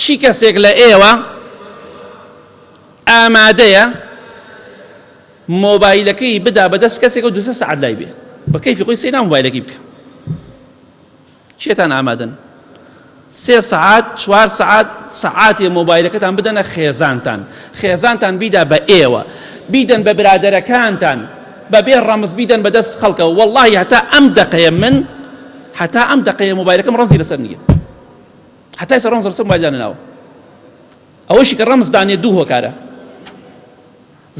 چی کەسێک لە ئێوە ئامادەیە مۆبایلەکەی بدا بەدەست کەسێک و دوسە سعات لای بێ بە کەیفی خۆی سەینا مۆبایلەکەی بکە چێتان ئامادەن سێ سعات چوار سعات سعاتێ مۆبایلەکەتان بدەنە خێزانتان خێزانتان بیدا بە ئێوە بیدەن بە برادەرەکانتان بەبێ ڕەمز بیدەن بەدەست خەڵکە واللهی هەتا ئەم دەقەیە من هەتا ئەم دەقەیە مۆبایلەکەم ڕەنزی لەسەر نییە هەتا ئێستا ڕەمز ڕەسەن وای دانەناوە ئەوەشی کە ڕەمز دانێ دوو هۆکارە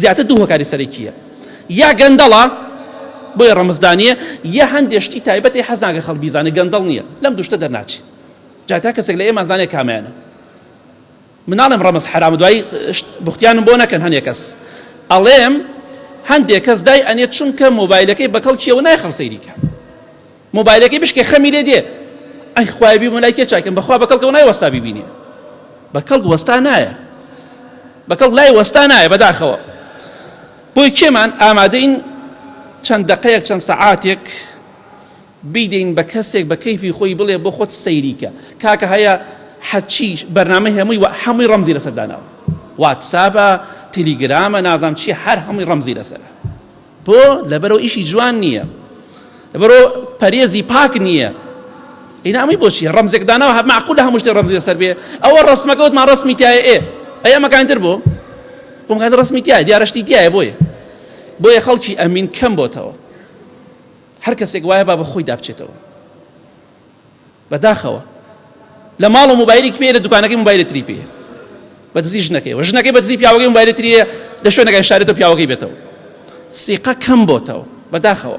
زیاتر دوو هۆکاری سەرەکیە یا گەندەڵە بۆیە ڕەمزدانە یا هەندێشتی تایبەتی حەزناگە خەڵ بیزانە گەندەڵ نییە لەم دوشتە دەرناچی جاتا کەسێک لە ئێمە زانێ کامەیانە مناڵم ڕەمز حرام دوای بختیانم بۆ نەکەن هەنێ کەس ئەڵێم هەندێک کەس دای ئەنێت چونکە مۆبایلەکەی بەکەڵکیەوە نایخەڵ سەیریکە مۆبایلەکەی بشکێ خەمی لێ دێ ئەی خوای بی مەلای کێ چاکەم بەخوا بە کەڵکەوە نای وەستا بیبینێ بە کەڵک وەستا نایە بە کەڵک لای وەستا نایە بەداخەوە بۆی کێمان ئامادەین چەند دقەیەک چەند سەعاتێک بیدەین بە کەسێک بە کەیفی خۆی بڵێ بۆ خۆت سەیریکە کاکە هەیە حەچی بەرنامە هەمووی و هەمووی ڕەمزی لەسەرداناوە واتسابە تەلیگرامە نازام چی هەر هەمووی ڕەمزی لەسەر تۆ لەبەرەوە ئیشی جوان نییە لەبەرەوە پەرێزی پاک نییە ئینا ئەمەی بۆچی ڕەمزێک داناوە هەر معقول لە هەموو شتێ ڕەمزی لەسەر بێ ئەوە ڕەسمەکە وتمان ڕەسمی تایە ئێ ئەی ئەمەکانی تر بۆ خۆمکات ڕەسمی تایە دیارەشتی تایە بۆیە بۆیە خەڵکی ئەمین کەم بۆتەوە هەر کەسێک وایە با بە خۆی دابچێتەوە بەداخەوە لە ماڵ و موبایلی پێ لە دوکانەکەی موبایلی تری پێ بە دزی ژنەکەی و ژنەکەی بە دزی پیاوەکەی موبایلی تریە لە شوێنەکەی شارێتە پیاوەکەی بێتەوە سیقە کەم بۆتەوە بەداخەوە